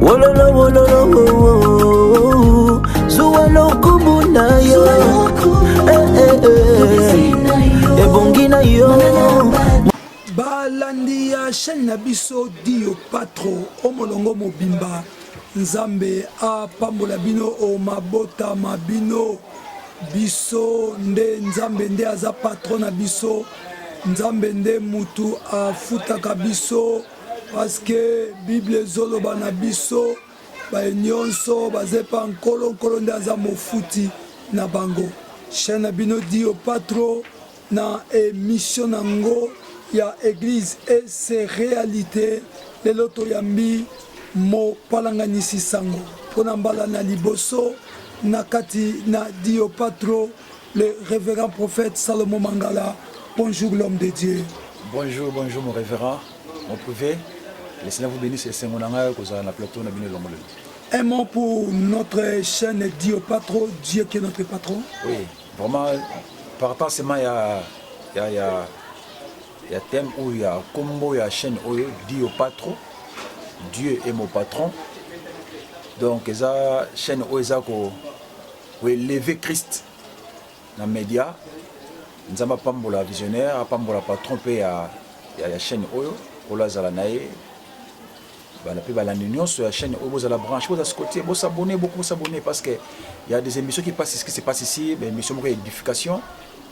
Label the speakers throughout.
Speaker 1: Wololo wololo wo wo zuwa lokumu na yo eh, eh, eh. ebongi na yo balandi
Speaker 2: ya chaîne na biso dio patro o molongo mobimba nzambe apambola bino o mabota ma bino biso nde nzambe nde aza patro na biso nzambe nde mutu afutaka biso Parce que bible ezoloba na biso baye nionso baza epa nkolo nkolo nde aza mofuti na bango chaine na bino dio patro na emission na ngo ya eglise et ses realites lelo toyambi mopalanganisi sango mpona mbala na liboso na kati na dio patro Le révérend prophète Salomon Mangala, bonjour l'homme de Dieu. Bonjour, bonjour
Speaker 3: mon révérend, mon privé. Le Seigneur vous bénisse et c'est mon anga kozala na plateau na bino longolo. Un mot pour
Speaker 2: notre chaîne Dio Patro, Dieu qui est notre patron. Oui, vraiment
Speaker 3: par rapport seulement ya ya ya ya thème ou ya combo ya chaîne oyo Dio Patro, Dieu est mon patron. Donc eza chaîne oyo eza ko Ko elever Christ na media. Nzambe apambola visionnaire, apambola patron pe ya ya, ya chaîne oyo ola zala na ye bana pe balandi nyonso ya chaîne oyo bozala branche boza sikotie bosabone boko bosabone parce que ya des émissions qui passe ce qui se passe ici ba émission moko ya édification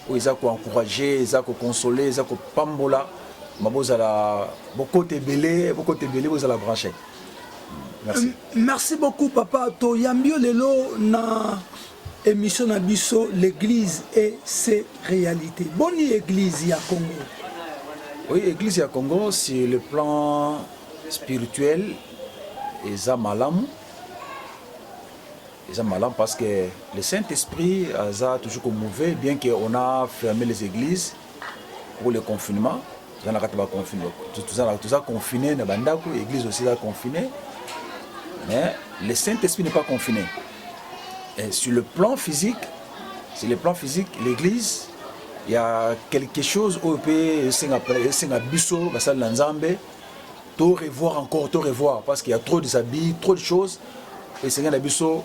Speaker 3: oyo eza koencourage eza kokonsole eza kopambola ma bozala bokota ebele bokota ebele bozala branche Merci. Euh, merci beaucoup
Speaker 2: papa toyambi yo lelo na émission na biso l'église et ses réalités boni église ya congo oui
Speaker 3: église ya congo sur le plan spirituel eza malamu eza malamu parce que le saint esprit aza toujours komouve bien que on a fermé les églises pour le confinement toza na kati ba confine toza confine na bandako église aussi eza confine mais le saint esprit n'est pas confiné Et sur le plan physique sur le plan physique l'église il y a quelque chose oyo mpe esenga biso basali na nzambe to revoir encore to revoir parce qu'il y a trop des habits trop de choses esenga na biso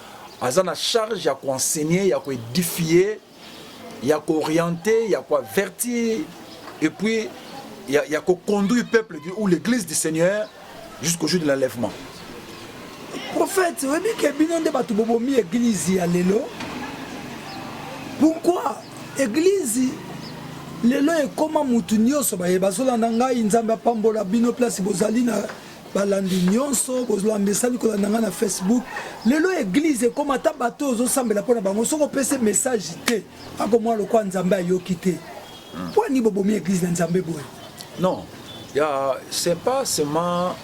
Speaker 3: Aza na charge ya ko enseigner, ya ko edifier, ya ko orienter, ya ko avertir et puis ya, ya ko conduire peuple du, ou l'église du Seigneur jusqu'au jour de l'enlèvement. Prophète,
Speaker 2: oyebi ke bino nde bato bobomi église ya lelo. Pourquoi église lelo ekoma mutu nyonso baye bazolanda ngai nzambe apambola bino place bozali na balandi nyonso bolamesani kolanda ngai na facebook lelo eglize ekoma ata bato oyo ozosambela mpo na bango soki opesi message te akomwa lokola nzambe ayoki te hmm. mpo ani bobomi eglize na nzambe boye non
Speaker 3: ya c'est pas seulement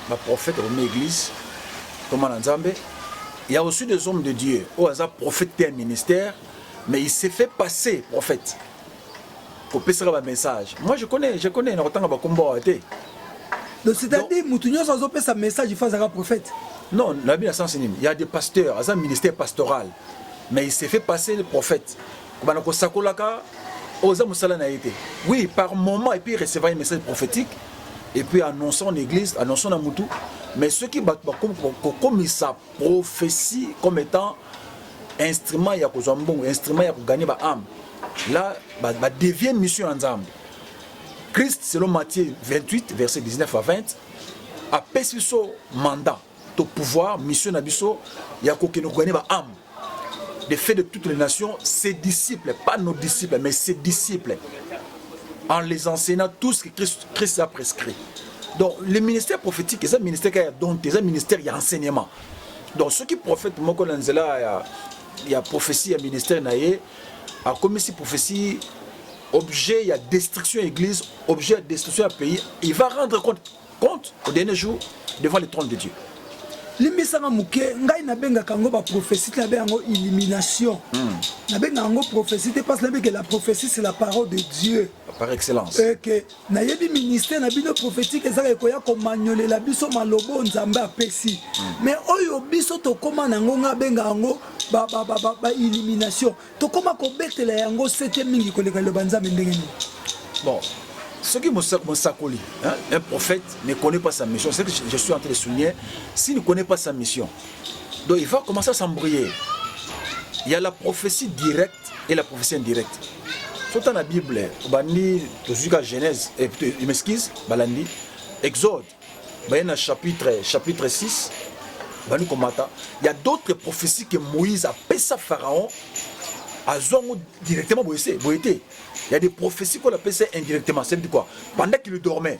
Speaker 3: baprofete bomi eglize koma na nzambe ya aussi des hommes de dieu oyo aza prophète te ya ministère mais il s'est fait passer prophète kopesaka ba message moi je connais je connais na kotanga ba kombo awa te donc
Speaker 2: c'est-à-dire mutu nyonso azopesa message ifa azaka prophète non nabi na sens
Speaker 3: nini ya des pasteurs aza ministère pastoral mais il s'est fait passer le prophète kobanda kosakolaka oza mosala na ye te oui par moment et puis recevoir un message prophétique et puis annonçant en église annonçant na mutu mais soki bato bakomi kokomisa prophetie comme étant instrument ya kozwa mbongo instrument ya koganye ba ame la badevie ba mission ya nzambe christ selon matthieu 28 verset 19 à 20 apesi biso mandat to pouvoir mission na biso ya kokende koganye ba ame de fait de toutes les nations ses disciples pas nos disciples mais ses disciples en les enseignant tout ce que christ, christ a prescrit donc le ministère prophétique eza ministère ya don te eza ministère ya enseignement donc soki prophète moko na nzela ya, ya prophétie ya ministère na ye akomisi prophétie objet ya destruction ya église objet ya destruction ya pays il va rendre compte, compte au dernier jour devant le trône de dieu limbisanga
Speaker 2: moke ngai nabengaka yango baprophétie te nabe yango illumination hmm. nabengaka yango prophétie te parce nabeke la prophétie c'est la parole de dieu par excellence
Speaker 3: eke nayebi
Speaker 2: ministère na bino prophétique ezaka ekoya komanyolela biso maloba oyo nzambe apesi me hmm. oyo biso tokóma na yango ngai abenga yango baillumination tokóma kobetela yango sete mingi koleka liloba nzambe ndenge nini
Speaker 3: bon soki mosakoli un prophète ne connaît pas sa mission c'est que je suis en train de souligner s'il ne connaît pas sa mission donc il va commencer à s'embrouiller il y a la prophétie directe et la prophétie indirecte sota na bible obandi tozwi ka genèse eh, m'excuse balandi exode baye na chapitre chapitre 6 bandi komata ya d'autres prophéties que moïse apesa pharaon azwa yango directement boye se boye te ya des prophéties kola apesa indirectement c'est quoi pendant qu'il dormait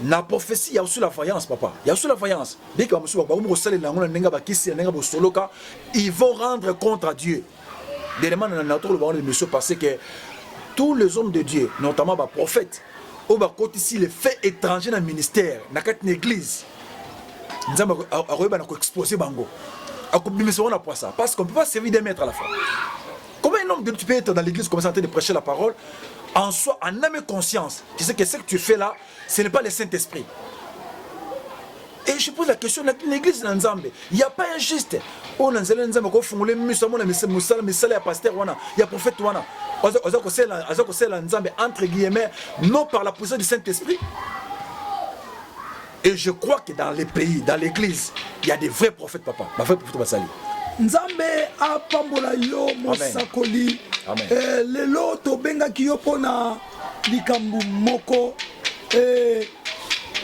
Speaker 3: na prophetie ya usula vaillance papa ya usula vaillance bika musuba ba ko salela yango na ndenge bakisi ya ndenge bosoloka ils vont rendre contre à Dieu dernièrement na na tolo bango l'émission passé que tous les hommes de Dieu notamment ba prophètes au ba kotisi les faits étrangers na ministère na kati na église nzamba akoyeba na ko exposer bango akobimisa wana poisa parce qu'on peut pas servir des maîtres à la fois Comment un homme de tu peux être dans l'église comme ça en train de prêcher la parole en soi en âme et conscience tu sais que ce que tu fais là ce n'est pas le Saint-Esprit et je pose la question l'église na nzambe il y a pas un juste oyo na nzela nzambe ko fungule miso amona mosala misala ya pasteur wana ya prophète wana aza kosela aza kosela nzambe entre guillemets non par la puissance du Saint-Esprit Et je crois que dans les pays, dans l'église, il y a des vrais prophètes, papa. Ma vraie prophète Basali. Nzambe
Speaker 2: apambola yo mosakoli. Eh, lelo tobengaki yo mpo na likambo moko eh,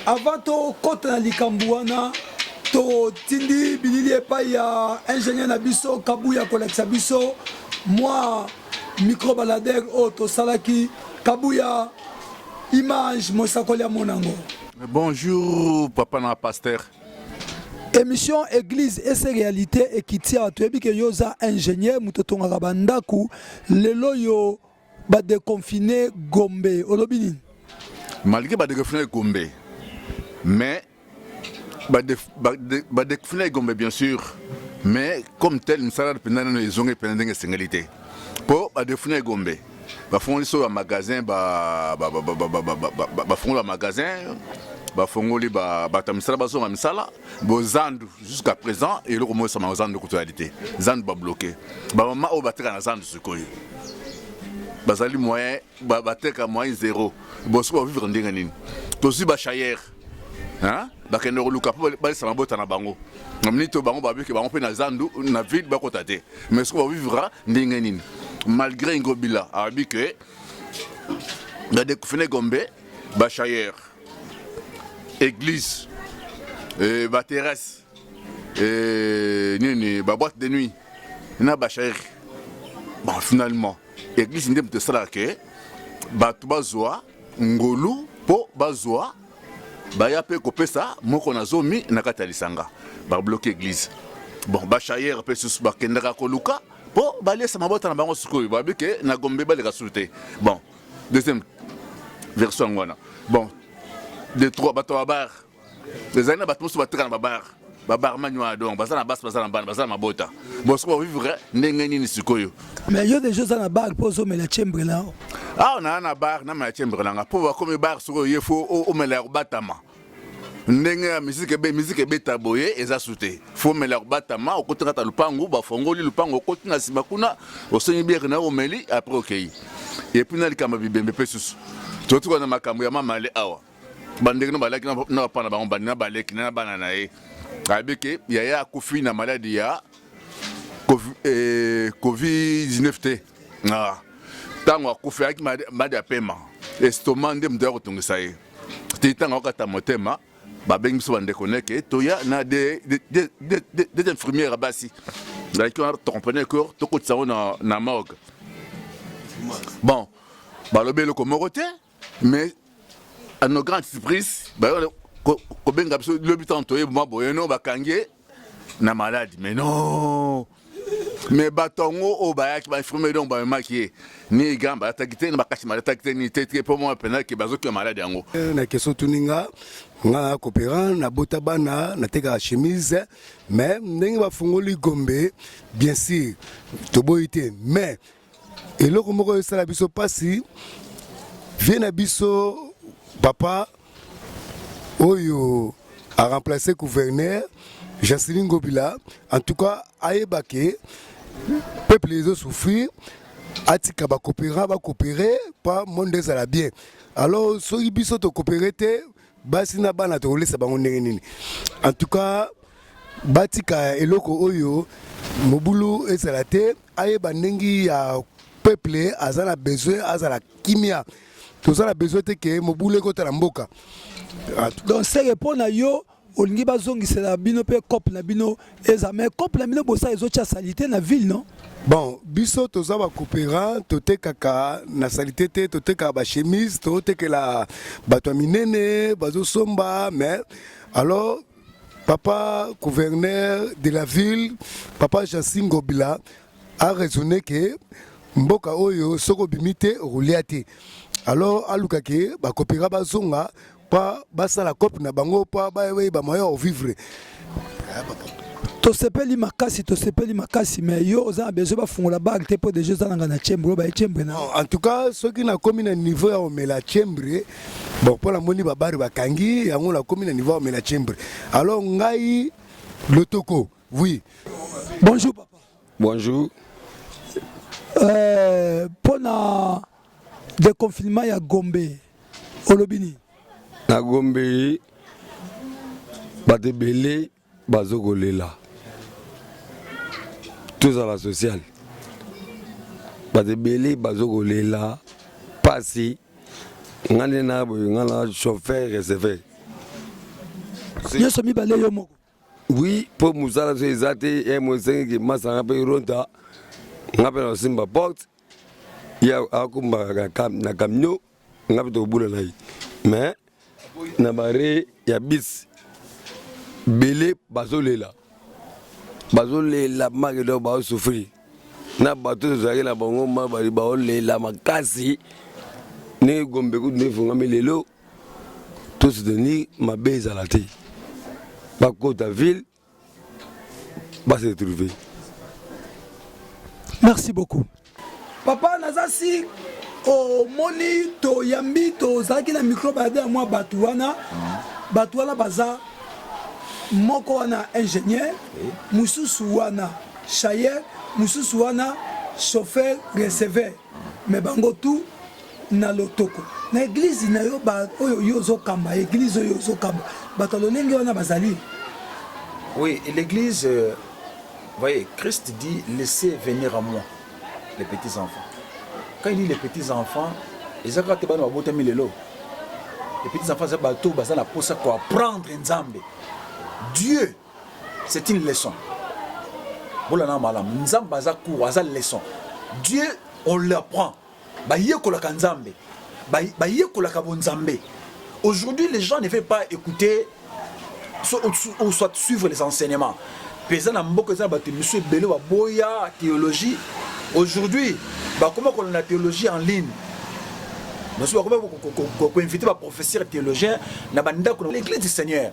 Speaker 2: avant tokota na likambo wana totindi bilili epai ya ingénieur na biso kabuya kolakisa biso mwa microbaladere oyo tosalaki kabuya image mosakoli amonango Bonjour
Speaker 4: papa na pasteur. Émission
Speaker 2: église et ses réalités et kitia tu ebi que yoza ingénieur mutotongaka bandaku lelo yo ba déconfiner Gombe olobi nini? Malgré
Speaker 4: ba déconfiner Gombe mais ba ba déconfiner Gombe bien sûr mais comme tel misala pendant les onges pendant ndenge singalité. Po ba déconfiner Gombe. bafongoli so ba magasin ba ba ba ba ba ba ba ba ba ba fongoli ba magasin bafongoli ba bato ya misala bazonga misala bozandu jusqu'à présent eloko moko esama zandu kutu yali te zandu babloke bamama oyo bateka na zandu sikoyo bazali moyen ba- bateka moyen zero bosoki bavivre ndenge nini tozwi bashayere bakende koluka mpo balisa mabota na bango na miniti oyo bango babiki bango mpe na zandu na ville bakota te mais soki bavivra ndenge nini malgré ingobila abi ke badekufine gombe bachayer église euh, baterrasse euh, nini baboite de nuit na bachayer bon finalement église nde moto esalaka ke bato bazwa ngolu mpo bazwa baya mpe kopesa moko na zomi na kati ya lisanga babloke eglise bon bashayere mpe susu bakendaka koluka mpo baliesa mabota na bango sikoyo babi ke na gombe baleka sulu te bon deuxième version yango wana bon de trois bato ya babare ezali na bato mosusu bateka na babar babarman wana donc baza na basi baza na bana baza na mabota bosko bovivre ndenge nini sikoyo mais yo deja oza
Speaker 2: na bar mpo ozomela chambre na yo awa naa na
Speaker 4: bar namela chambre nanga mpo bakomi bar sikoyo ye fo omela ya kobatama ndenge ya miziki ebe miziki ebeta boye eza su te fomela kobatama okoti kata lupangu bafongoli lupangu okoti na nsima kuna osengi biere na omeli apres okei epuis na likambo ya bibembe mpe susu totuka na makambo ya mamale awa bandeko na balaki na papa na bango bandi na baleki na bana na ye ayebi ke yaya akufi na maladi ya covid-19 eh, te ntango ah. akufi ayaki maladi ya pema estoma nde moto ya kotungisa ye ti ntango akokata motema babengi biso bandeko neke toya na de infirmière ya basi zalaki wana tocomprenait que tokotisa yango na morgue bon balobi eloko moko te Mais à nos grandes surprises, bah, kobenga biso lobi ntango toye mwa boye no bakangi ye na maladi mais non mais bato yango oyo bayaki bainfirmier donc bamemaki ye ni gan balataki te na bakasi malataki te ni te te mpo mwa mpenaki bazoki ya maladi yango eh, na keso tuni nga
Speaker 5: nga cooperant nabota bana natekaka chemise mais ndenge bafungoli gombe bien sûr toboyi te mais Eloko moko esala biso pasi vie na biso papa oyo a remplacer gouverneur Janseline Ngobila en tout cas ayeba ke peuple ezo souffrir atika ba coopérer ba coopérer pa monde ezala bien alors soki biso to coopérer te basi na bana tokolesa bango ndenge nini en tout cas batika eloko oyo mobulu ezala te ayeba ndenge ya peuple aza na besoin azala kimia toza na besoin te ke mobulu ekota na mboka ah, donc
Speaker 2: seke mpo na yo olingi bazongisela bino mpe cope na bino eza mais cope na bino bosala ezotya salite na ville non bon biso
Speaker 5: toza bakopera totekaka na salite te totekaka bachemise totekela bato ya minene bazosomba mais alors Papa gouverneur de la ville, papa Jansi Ngobila a raisonné que mboka oyo soko bimi te okolia te. Alors aluka ke bakopeka bazonga mpa basala cope na bango mpa bayeba moyen ya vivre.
Speaker 2: tosepeli makasi tosepeli makasi mais yo oza na besoin bafungola bag te mpo deja oza nanga na chambre oyo baye chambre na en tout cas soki
Speaker 5: nakomi na niveau ya omela chambre bon mpo namoni babare bakangi yango nakomi na niveau ya omela chimbre alors ngai lotoko oui bonjour
Speaker 2: papa
Speaker 6: bonjour euh,
Speaker 2: mpo na deconfinement ya gombe olobi nini na
Speaker 6: gombe bato ebele bazo kolela tozala social bato ebele bazo kolela pasi nga nde na boye nga na chauffeur receveur nyonso
Speaker 2: mibale yo moko oui mpo
Speaker 6: mosala so eza te ye eh, mosengeki masanga mpe ronta nga mpe nakosimba porte ye akombaka na camion nga mpe tokobula na ye mais na bare ya bis bele bazolela bazolela make donc baosouffrir na bato tozalaki na bango mabali baolela makasi ndenge gombe kutu nde efungami lelo to soutenir mabe ezala te bakota ville ba se retrouver
Speaker 2: merci beaucoup papa naza si omoni toyambi tozalaki na micro bayade ya mwa bato wana bato wana baza moko wana ingénieur mosusu wana chayer mosusu wana chauffeur receveur mais bango tout na lotoko na eglise na yo ba oyo yo ozokamba eglise oyo ozokamba bato ya lolenge wana bazali
Speaker 3: oui l'église euh, voyez christ dit laissez venir à moi les petits enfants quand il dit les petits enfants eza kaka te bana babotami lelo les petits enfants eza bato baza na mposa koapprendre nzambe dieu c'est une leçon bolana malamu nzambe aza cour aza leçon dieu on l'apprend bayekolaka nzambe bayekolaka bonzambe aujourd'hui les gens ne veulent pas écouter so, ou, ou soit suivre les enseignements mpe eza na mboka eza na bato misu ebele baboya théologie aujourd'hui bakoma kolanda théologie en ligne basusu bakoma koinvite baprofesseur théologien na bandako na l'église du seigneur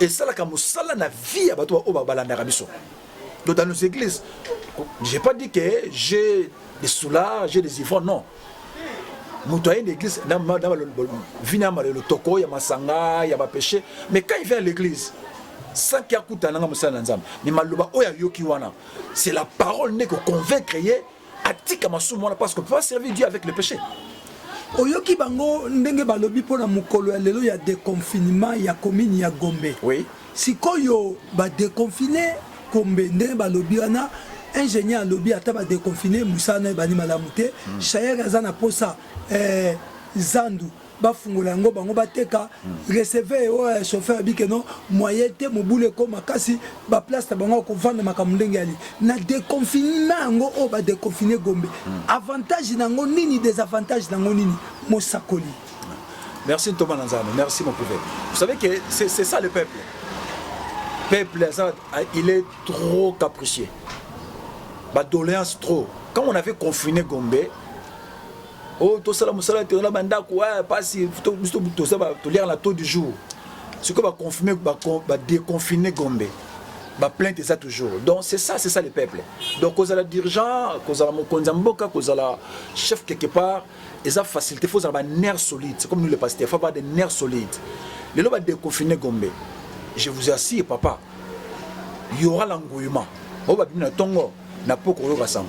Speaker 3: esalaka mosala na vie ya bato oyo balandaka biso do dans nos églises j'ai pas dit que j'ai des soulards j'ai des ivrognes non moto aye na église na vi na malelo toko ya masanga ya bapeshe mais quand il vient à l'église sanki akutana nga mosala na nzambe mais maloba oyo ayoki wana c'est la parole nde koconvaincre ye atika masumu wana parce que peut pas servir Dieu avec le péché oyoki
Speaker 2: bango ndenge balobi mpo na mokolo ya lelo ya deconfinement ya commune ya Gombe oui. sikoyo badeconfine Gombe ndenge balobi wana ingénieur alobi ata badeconfine mosala na ebandi malamu te mm. shayere aza na posa eh, zandu bafungola yango bango bateka receveur oyo ya chauffeur abi ke non moyen te mobulu ekoma makasi baplace na bango ya kovanda makambo ndenge yali na deconfinement yango oyo badeconfine gombe avantage na yango nini desavantage na yango nini mosakoli merci
Speaker 3: ntoma na nzambe merci mon prophète vous savez que c'est ça le peuple peuple aza il est trop capricieux badoléance trop quand on avait confiné gombe oh tosala mosala te na bandako mpasi tosala toliaka na taux du jour sikoyo baconfirme badeconfine gombe baplainte eza toujours donc c'est ça c'est ça le peuple donc kozala dirigeant kozala mokonzi ya mboka kozala chef quelque part eza facilité fo ozala banerf solide c'est comme nous le pasteur fo avoir des nerfs solides lelo badeconfine gombe je vous assure papa y aura l'engouillement oyo babimi na ntongo na mpo koyoka sango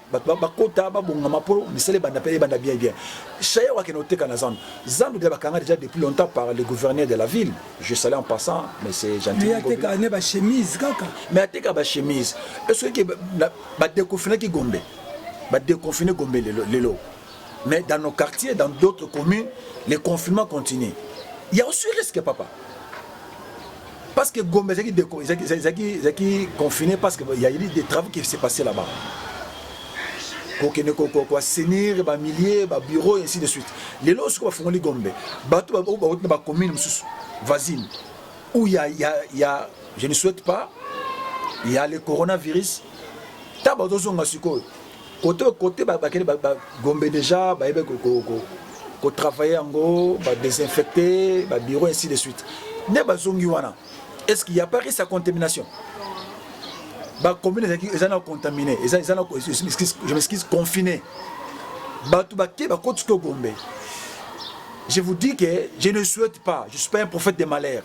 Speaker 3: bato bakota babongama mpo misala ebanda mpe ebanda bien bien shayer wakende oteka na zandu zandu deja bakanga deja depuis longtemps par le gouverneur de la ville je salai en passant mais c'est gentilmeteka ne bachemise
Speaker 2: kaka mais ateka bachemise
Speaker 3: esoki badeconfinaki gombe badeconfine gombe lelo Mais dans nos quartiers, dans d'autres communes, le confinement continue. Il y a aussi risque, papa. Parce que Gombe, ils confiné parce qu'il y a eu des travaux qui s'est passé là-bas. kokende koassainir bamilier babiro ainsi de suite lelo oyo soki bafungoli gombe bato oyo bauti na bacommune mosusu voisine où ya, ya, ya je ne souhaite pas ya le coronavirus ntango bazozonga sikoyo Kote kote bakende ba, ba, Gombe deja bayebe ko, ko, ko, ko travailler yango ba désinfecter ba bureau ainsi de suite. Nde bazongi wana. Est-ce qu'il n'y a pas risque ya contamination? Ba commune ezaki eza na contaminé, eza eza na je m'excuse, je m'excuse confiné. Bato bake bakoti ko Gombe. Je vous dis que je ne souhaite pas, je suis pas un prophète de malheur,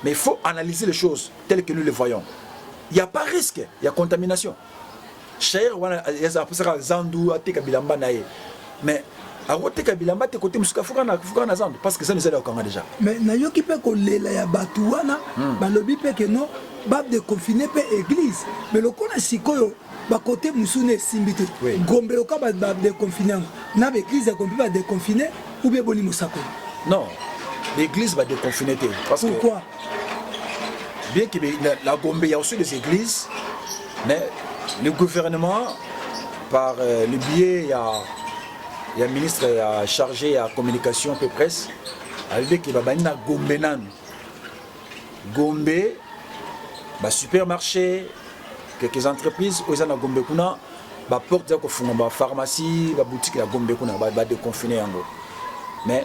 Speaker 3: mais il faut analyser les choses telles que nous les voyons. Il n'y a pas risque, il y a contamination. shaire wana apusaka zandu ateka bilamba na ye mais akoteka bilamba te kote mosuka fuka na fuka na zandu parce que zandu ezali okanga déjà mais nayoki mpe
Speaker 2: kolela ya bato wana hmm. balobi mpe ke non badeconfine mpe église mais lokola sikoyo bakote mosusu na esimbi te gombe loka badeconfine yango na baeglise ya gombe mpe badeconfine ou bien boni mosakoli non
Speaker 3: baeglise badeconfine te pourquoi bien que la Gombe, il y a aussi des églises, mais le gouvernement, par euh, le biais, il y a, il y a un ministre il y a chargé à communication peu presse, a dit que babani na Gombe nan. Gombe, ba supermarché, quelques entreprises, aux na Gombe kuna, ba porte ya kofunga ba pharmacie, ba boutique ya Gombe kuna, ba, ba déconfiner yango. Mais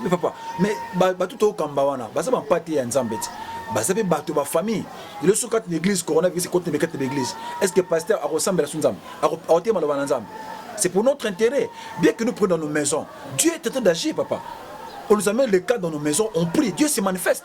Speaker 3: mais papa mais bato tokamba wana baza bampate ya nzambe ti baza mpe bato ba famille elo soki kati na église coronavirus ekoti na kati na église est ce que pasteur akosambela so nzambe akotema loba na nzambe c'est pour notre intérêt bien que nous prenons nos maisons dieu est en train d'agir papa on nous amène le cas dans nos maisons on prie dieu se manifeste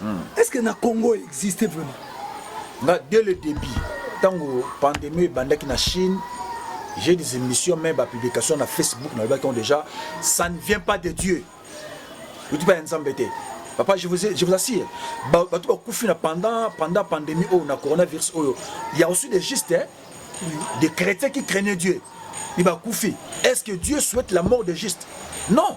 Speaker 2: hmm. est ce que na congo existe vraiment nga dès le début
Speaker 3: ntango pandémie ebandaki na chine j'ai des émissions même bapublication na facebook nalobaki on déjà ça ne vient pas de dieu outi pa ya nzambe te papa je vous, ai, je vous assure bato bakufi na pendant pendant pandémie oyo na coronavirus oyo ya aussi des juste hein? des chrétiens qui craignaient dieu ni bakufi est ce que dieu souhaite la mort de juste non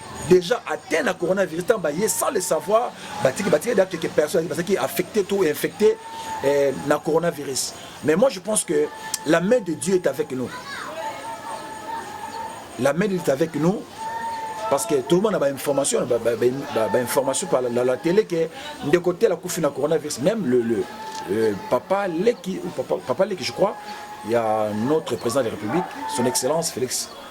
Speaker 3: dejà atteint na coronavirus ntango baye sans le savoir batiki batiki da quelques personnes bazalaki affecté to infecté eh, na coronavirus mais moi je pense que la main de Dieu est avec nous la main de Dieu est avec nous parce que tout le monde a information ba, ba, ba, ba, ba information par la, la, la télé que ndeko tela kufi na coronavirus même le, le euh, papa Leki ou papa, papa Leki je crois il y a notre président de la République son excellence Félix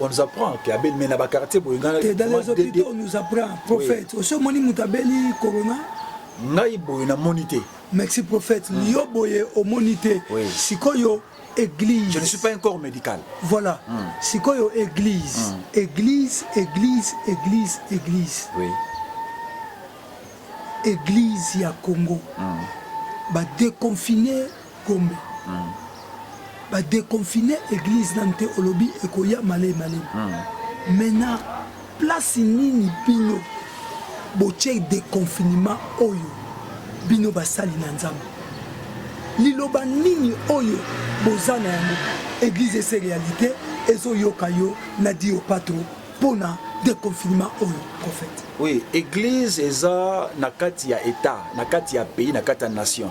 Speaker 3: on nous apprend que abeli mais na ba quartier boye nga dans les hôpitaux
Speaker 2: on nous apprend prophète osi omoni moto abeli corona ngai boye
Speaker 3: namoni te merci prophète
Speaker 2: mm. yo boye omoni te oui. sikoyo église je ne suis pas un corps
Speaker 3: médical voilà mm.
Speaker 2: sikoyo église mm. église église église église
Speaker 3: oui.
Speaker 2: église ya congo mm. badeconfine Gombe ba deconfine eglise nanu te olobi ekoya malei malei mais na place nini bino botie deconfinement oyo bino basali na nzambe liloba nini oyo boza na yango eglise ese realite ezoyoka yo na dio patro mpo na deconfinement oyo prophète oui eglise
Speaker 3: eza na kati ya etat na kati ya pays na kati ya nation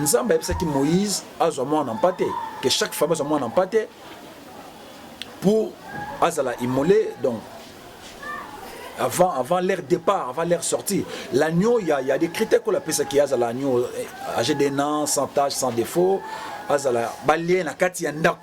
Speaker 3: Nzambe ayebisaki Moïse azwa mwana mpate, que chaque famille azwa mwana mpate pour azala immolé donc avant, avant leur départ, avant leur sortie. L'agneau, il y, a, y a des critères qu'on appelle ça qui est l'agneau âgé d'un an, sans tâche, sans défaut, azala balien na kati ya ndako.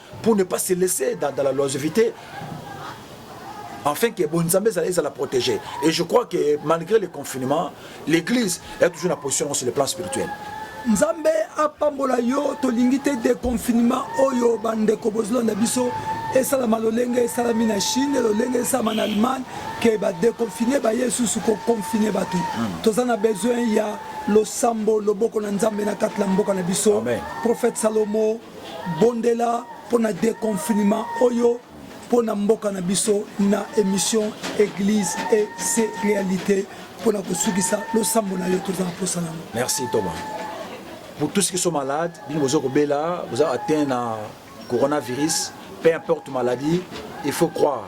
Speaker 3: pour ne pas se laisser dans, dans la longévité afin que bonzambe ezala ezala protégé et je crois que malgré le confinement l'église est toujours na position sur le plan spirituel nzambe
Speaker 2: apambola yo tolingi te deconfinement oyo bandeko bozolanda biso esalama lolenge esalami na chine lolenge esalama na allemagne ke badeconfine baye lisusu koconfine bato hmm. toza na besoin ya losambo loboko na nzambe na kati na mboka na biso prophète salomo Bondela mpo na deconfinement oyo mpo na mboka na biso na emission Eglise et ses realites mpo na kosukisa losambo na yo toza na mposa nango. Merci Thomas.
Speaker 3: Pour tous ceux qui sont malades, bino bozo kobela, boza atteint na coronavirus, peu importe maladie, il faut croire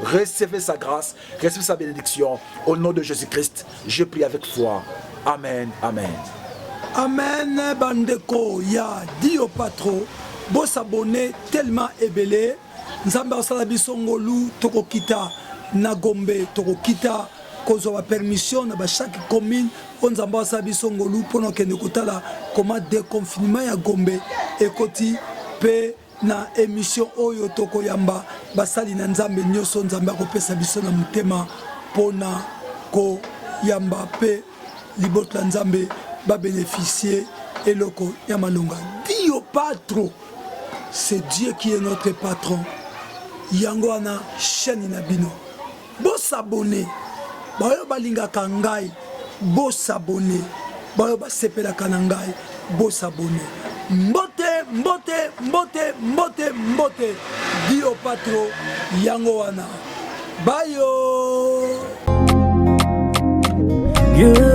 Speaker 3: Recevez sa grâce, recevez sa bénédiction. Au nom de Jésus-Christ, je prie avec foi. Amen, amen. Amen,
Speaker 2: bandeko ya Dio Patro. Bo s'abonner tellement ebele. Nzambe asala biso ngolu tokokita na Gombe, tokokita kozwa permission na ba chaque commune oyo nzambe asala biso ngolu mpo na kokende kotala koma deconfinement ya gombe ekoti mpe Na emission oyo toko yamba basali na Nzambe nioso Nzambe akopesa biso na motema pona ko yamba pe libot la Nzambe ba beneficier eloko ya malonga. Dio patro c'est Dieu qui est notre patron yango wana chaine na bino Bo s'abonner baoyo balingaka ngai, bo s'abonner baoyo basepelaka na ngai, bo s'abonner. Mbote, mbote, mbote, mbote, mbote, Dio Patro, yango wana bayo. Yeah.